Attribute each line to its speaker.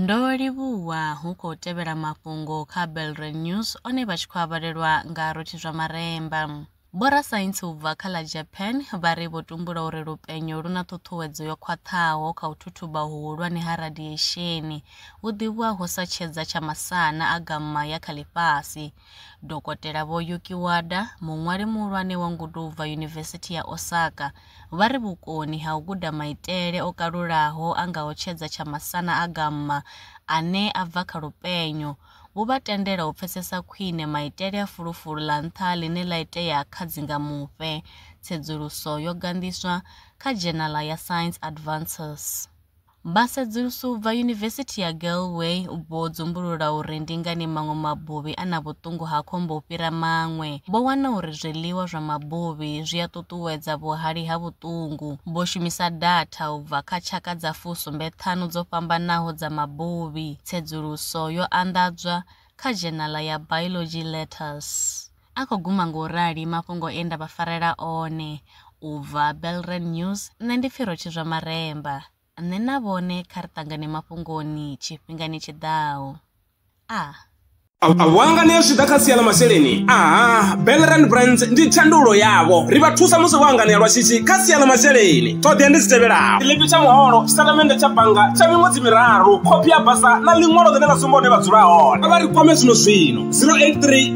Speaker 1: Ndo livhuwa hu khou tevhela mafhungo kha Belre News one vha tshi khou avhalelwa nga rothi zwa maremba. Vhorasaintsi u bva kha ḽa Japan vha ri vho tumbula uri lupenyo lu na ṱhuṱhuwedzo yo khwaṱhaho kha u thuthuba huhulwane ha radiesheni vhu ḓivhiwaho sa tshedza tsha masana a gamma ya kha ḽifhasi. Dokotela Vho Yuki Wada, muṅwali muhulwane wa ngudo u bva Yunivesithi ya Osaka, vha ri vhukoni ha u guda maitele o kalulaho a ngaho tshedza tsha masana a gamma ane a bva kha lupenyo vhu vha tendela u pfesesa khwine maitele a fulufulu ḽa nṱha ḽine ḽa itea kha dzingamufhe. Tsedzuluso yo ganḓiswa kha dzhenala ya Science Advances. Vha sedzuluso u bva Yunivesithi ya Galway vho dzumbulula uri ndi ngani maṅwe mabuvhi a na vhuṱungu ha khombo u fhira maṅwe. Vho wana uri zwiḽiwa zwa mabuvhi zwi a ṱuṱuwedza vhuhali ha vhuṱungu. Vho shumisa datha u bva kha tshaka dza fu sumbe ṱhanu dzo fhambanaho dza mabuvhi. Tsedzuluso yo anḓadzwa kha dzhenala ya Biology Letters. A khou guma nga u rali mafhungo e nda vha farela one. U bva Belren News, nṋe ndi pfi Rotshizwa Maremba. Nṋe na vhone kha ri ṱangane mafhungoni tshifhingani tshi ḓaho. A. A
Speaker 2: vho a nganea zwi tshi ḓa kha sia ḽa masheleni? Aha, Belren Brands ndi thandululo yavho. Ri vha thusa musi vho a nganea lwa shishi kha sia ḽa masheleni. Ṱhoḓea ndi dzi tevhelaho, tshiḽipi tsha muholo, tshitatamennde tsha bannga tsha miṅwedzi miraru, khophi ya basa na ḽiṅwalo ḽine ḽa sumba hune vha dzula hone. Kha vha ri kwame zwino-zwino, 083.